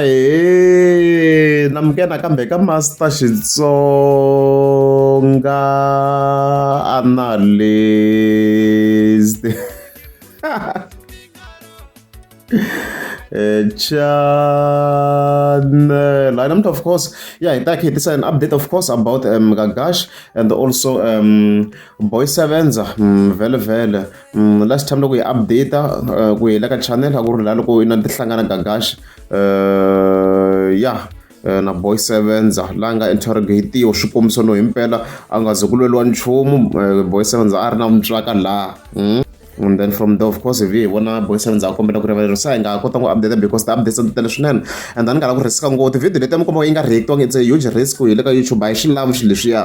ahe na muke nakambe ka master xitsonga analyst Eh, channel lineup of course yeah in that case this is an update of course about um gagash and also um boy sevens um, vele vele last time loko hi update ku hela ka channel a ku ri laha loko i na ti hlangana gagax ya na boy sevenza la nga interrogatiwa swikombiso no himpela a nga ze ku lweliwa nchumu boy sevenza a ri na mutswaka laha hmm? and then from there of course hi vi hi vona boy sevenza a kombela ku rivalela se hi nga kota ku update because the updates ti tele swinene and then ni nga la ku risk ngopfu video leti ya mi komba yi nga reactiwanga it's a huge risk hi le ka youtube a hi xi lavi xi leswiya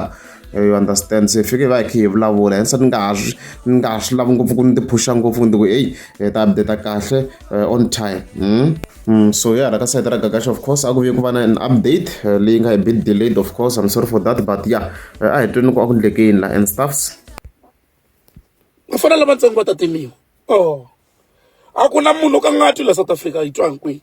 you understand se hi fike hi va hi khe hi vulavula hence ni nga ha swi ni nga ha swi lavi ngopfu ku ni ti phusha ngopfu ku ni ti ku eyi hi ta update kahle eh, on time hmm? Mm, so ya hala ka sayiti ra gagaxa of course a ku vi ku va na an update eh, leyi nga hi bit delayed of course i'm sorry for that but ya eh, a hi tweni ku a ku ndlekeni la and stuffs vafana lavatsongo va ta timiwa o oh. a ku na munhu ka nga twi la south africa yi twa hinkwihi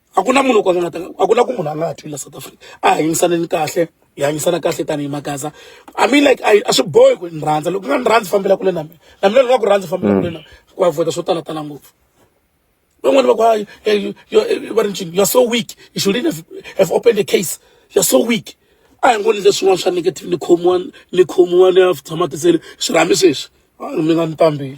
a ku na munhu kwala nga ta a ku na ku munhu a nga ha thlula south africa a hanyisaneni kahle hi hanyisana kahle tanihi magaza i mean like a swi bohi ku ni rhandza loko nga ni rhandzi fambela kule na mina na mina loko nga ku rhandzi fambela kule na ku avoida swo tala tala ngopfu van'wani va ku hayi va ri ncini you're so weak you should have, have opened a case you're so weak a hi ngoni leswin'wana swa negative ni khomiwa ni khomiwa ni ya tshama tisele swi rhambi sweswi mi nga ni pambeli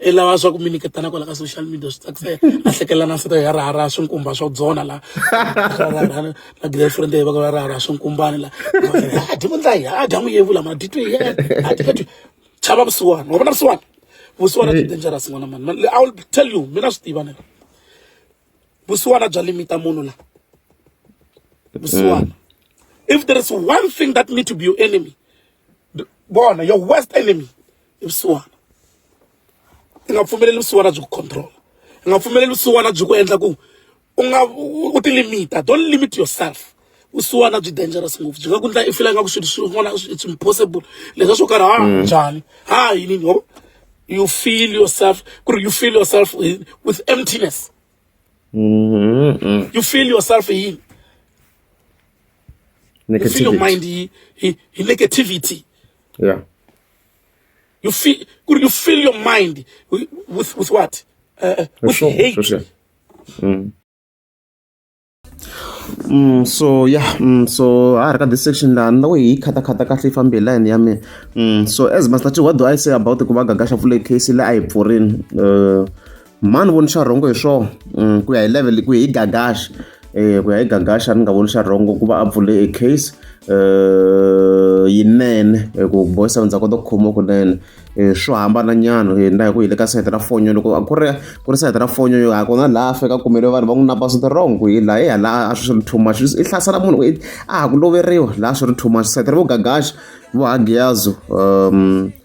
i lava swa ku mi nyiketana kwala ka social media swi tsakisela a hlekelela na nsita ya raharaha swinkumba swa dzona la na girlfriend ya va raharaha swinkumbani la a dyi vundla hi a dya n'wi yevula ma dyi twi hi a dyi ka twi chava vusiwana wa vona vusiwana vusiwana byi dangerous n'wana mani i will tell you mina swi tiva nela vusiwana bya limita munhu la vusiwana if there is one thing that need to be your enemy bona your worst enemy ni vusiwana i nga pfumeleli vusiwana byi ku control i nga pfumeleli vusiwana byi ku endla ku u nga u ti limita don't limit yourself vusiwana byi dangerous ngopfu byi nga ku ndla i fila nga ku swilo swin'wana it's impossible leswa swo karhi ha mm. njhani ha yini ngo you feel yourself ku ri you feel yourself with emptiness mm-hmm. you feel yourself yini you feel your mind yi negativity yeah you feel could you fill your mind with, with, with what uh, uh with sure, hate sure, sure. Mm. Mm, so yeah mm, so ha ri ka this section laha ni loko hi yi khatakhata kahle yi fambe hi line ya mina mm, so as master what do i say about ku va gagasha pfule case leyi a yi pfurini uh, mhani voni xa rhongo hi swona mm, ku ya hi level ku ya hi gagaxa eh, ku ya hi gagaxa ni nga voni xa rhongo ku va a pfule e case eh, yinene eh, ku boy sound ndza kota ku khoma kunene swo hambana nyana na hi ku hi le ka sayiti ra fonyo loko ku ri ku ri sayiti ra fonyo yo ha kona laha fika kumele vanhu va n'wi napa swi wrong ku hi laha hi hala a swi ri too much i hlasela munhu a ha ku loveriwa laha swi ri too much sayiti ra vogagaxa vohagiyazo um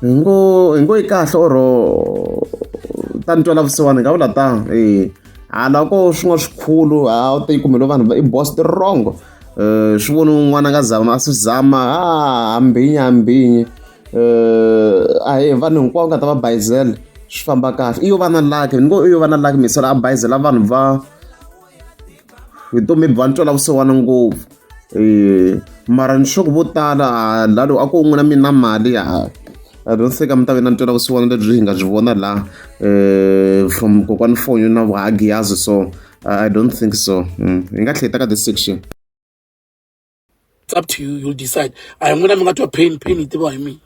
hi ngo hi ngo yi kahle or ta ni twela vusiwana hi nga vula ta e hala ko swin'wana swikhulu a wu te yi kumelo vanhu i boss ti wrong um swi voni un'wana nga zama a swi zama a hambinyi hambinyi um a hi vanhu hinkwavo nga ta va bayizela swi famba kahle i yo va na laki ni ngo i yo va na laki misala a bayizela vanhu va vutomi bya ntwela vusiwana ngopfu eh, mara ni swaku vo tala ah, lalo a ku un'we na mina mali a ah, ronseka mi ta ve na ntwela vusiwana lebyi hi nga byi vona la eh, from kokwani fonyo na vuhagiyazi so i don't think so mm, hi nga tlheta ka this section it's up to you you'll decide a hi n'wina mi nga twa pain pain yi tiviwa hi mina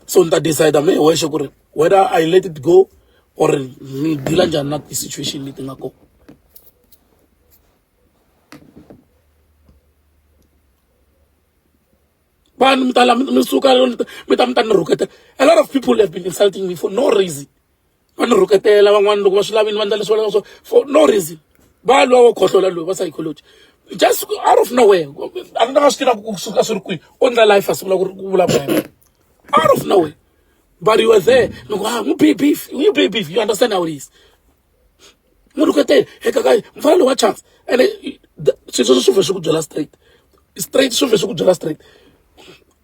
so ni ta decide me wexe ku ri whether i let it go or ni deala njhani na ti-situation leti nga kona vanhu mi ta la mi suka mi ta mi ta ni rhuketela a lot of people have been insulting me for no reason va ni rhuketela van'wana loko va swi lavini va endla leswi va lavaka swo for no reason va lwa wo khohlola loyi va psychology just out of nowhere a ni nga swi tivaka ku suka swi ri kwihi o ndla life a sungula ku ri ku vulavula hi out of nowhere but you were there ni ku ha ah, n'wi be beef n'wi be beef you understand how it is n'wi rhuketela eka ka mfana loyi wa chance ene swilo sweswo swi vhe swi ku byela straight straight swi vhe swi ku byela straight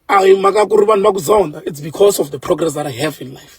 a hi mhaka ku ri vanhu va ku zonda it's because of the progress that i have in life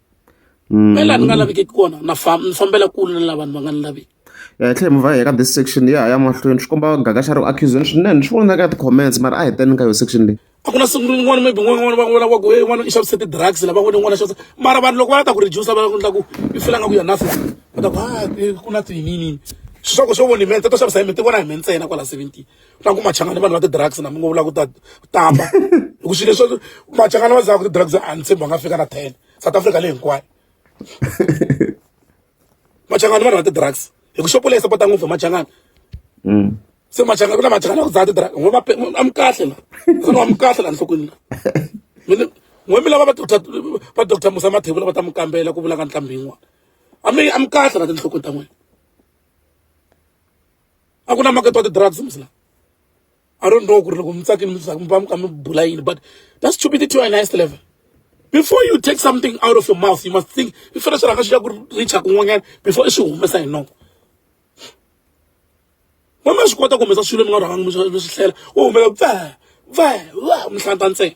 me laha ni nga lavekeki kona na famba ni fambela kule na lavanhu va nga ni laveki ya hi tlhela mi va hi ya ka this section ya ya mahlweni swi komba gaga xa ri accusation swinene ni swi vona ka ti-comments mara a hi teni ka yo section leyi a ku na siku rin'wana maybe n'wana n'wana va n'wana wa ku e n'wana i xavise ti-drugs lava n'wana n'wana xavisa mara vanhu loko va ta ku reduce va endla ku i fela nga ku ya nothing va ta ku a ku na tiyiniyini swi swa ku swo vona hi mente to xavisa hi mi ti vona hi mi ntsena kwala seventeen na ku machangani vanhu va ti-drugs na mi ngo vula ku ta tamba hi ku swilo leswi machangani va zaka ti-drugs a ni tshembi va nga fika na ten south africa leyi hinkwayo machangani vanhu va ti-drugs hi ku xopo leyi sapota ngopfu hi machangani mm. se machangani ku na machangani va ku dzaha ti-drugs n'we a mi kahle la sani wa mi kahle la nhlokweni la n'we mi lava va doctor va doctor musa mathevula va ta mi kambela ku vulaka ntlhambi yin'wana a mi a mi kahle la tinhlokweni ta n'wina a ku na makete wa ti-drugs mhisi la i don't know ku ri loko mi tsakini mi mi va mi kha mi bula yini but that's stupidity on highest level before you take something out of your mouth you must think i fanele swi rhanga swi ya ku richa kun'wanyana before i swi humesa hi noko wa ma swi kota ku humesa swilo mi nga rhangangi mi swi hlela u humela va va va mihlanta ntsena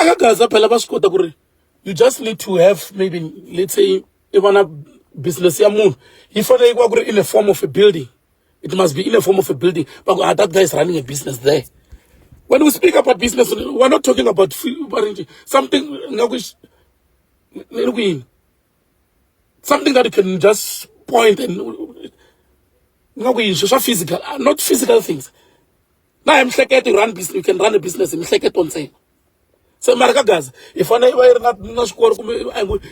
a ka gaza phela va swi kota ku ri you just need to have maybe let's say i va na business ya munhu yi fanele ku va ku ri in a form of a building it must be in a form of a building va ku ah that guy is running a business there when we speak about business we're not talking about something nga ku ni ri ku yini something that you can just point and nga ku yini swa physical ah, not physical things na hi mihleketo run business you can run a business hi mihleketo ntsena se mara ka gaza hi fanele va yi ri na na swikolo kumbe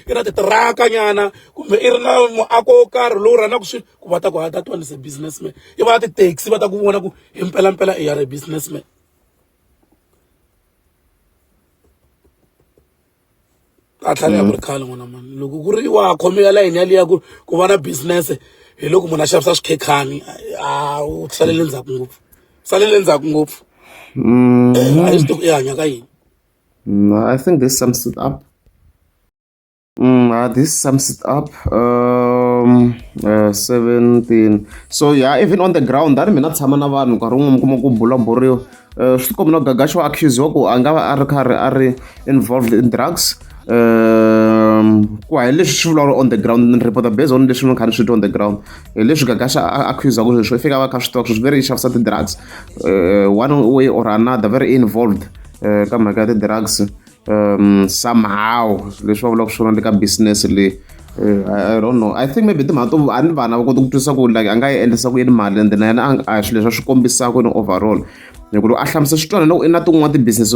i na titiraka nyana kumbe i ri na muako wo karhi lowu rhanaka swilo ku va ta ku hata twan is a businessman i va ti-taxi va ta ku vona ku hi mpelampela i ya ri businessman a tlhela ya ku ri khale n'wana mani loko ku ri wa khomela layini yaliya ku ku va na business hi loko munhu a xavisa swikhekhani a u salele ndzhaku ngopfu salele ndzhaku ngopfu Mm, Eh, a hi swi tivi ku i hanya ka yini no, I think this sums it up. Mm, uh, this sums it up. Um, uh, 17. So yeah, even on the ground, that mina tshama na vanhu nkarhi wun'we mi kuma ku bulaburiwa Eh, swi tikombi no gagaxo accusiwa ku a nga va a ri karhi a ri involved in drugs um ku ya hi leswi swi vulavula on the ground ni reporter based on leswi ni kha ni swi twa on the ground hi eh, leswi gagaxa a accusaka sweswo i fika va kha swi tiva ku swi very i xavisa ti-drugs eh, one way or another very involved ka mhaka ya ti-drugs um somehow leswi va vulaka swona le ka business leyi eh, I don't know. I think maybe timhaka to a ni vana va kota ku twisisa ku like a nga yi endlisa ku yini mali and then yena a swilo leswi a swi kombisaka yini overall hi ku loko a hlamusa switwanana u na tin'wana ti-business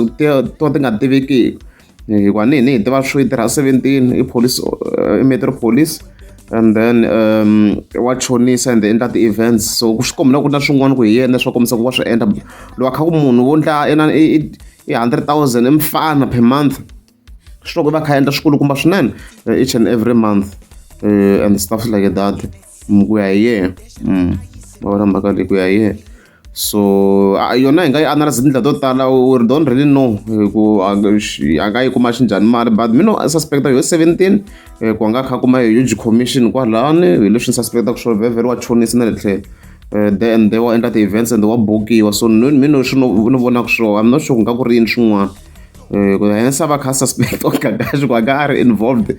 to ti nga tivekiki hikuva ni hi ni hi tiva swo yi tirha seventeen i police eh, i metro police and then um, wa chonisa and endla ti-events so swi kombela ku na swin'wana ku hi yena swa kombisa ku wa swi endla lowa kha ku munhu wo ndla i i hundred thousand i mfana per month swi loko va kha endla swikulukumba swinene eh, each and every month uh, and stuff like that mm, ku ya hi yena mm, va vona mhaka leyi ku ya hi yena so yona hi nga yi analyze tindlela to tala we don't really know ku a nga yi kuma xinjhani mali but mina i suspecta yo 17 ku a nga kha kuma hi huge commission kwalani hi leswi ni suspectaka swona vhevhele wa chonisa na le tlhelo Eh, then they wa endla ti-events and wa bukiwa so ni ni no swi ni vonaka swona i'm not sure ku nga ku ri yini swin'wana eh, ku hence a va kha suspect or kakaxi ku a nga a ri involved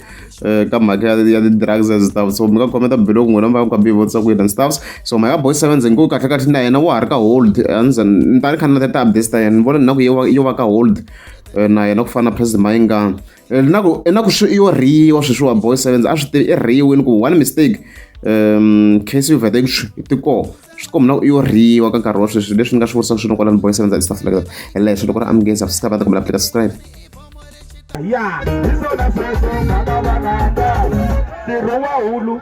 eh, ka mhaka ya ti-drugs and stuff so mi nga khometa biloko n'wina mi va ka bivutisa ku yini and stuffs so my boy seven ndzi ngo kahle kahle na yena wa ha ri ka hold andza ni ta ni kha ni na ti-updates ta yena ni vona ni na ku yo va ka hold na yena ku fana na president mayingani na ku na ku swi yo riwa sweswiwani boy sevens a swi tivi i riwini ku one mistake um case of addiction i tikoho swi komba na ku iyo riwa ka nkarhi wa sweswi leswi ni nga swi vurisaka swino kwalani boy sevens and stuff like that and leswi loko ri amukeni subscribe ta kumela pleka subscribe ya hi swona sweswo ngaka vanaka ntirho wa hulu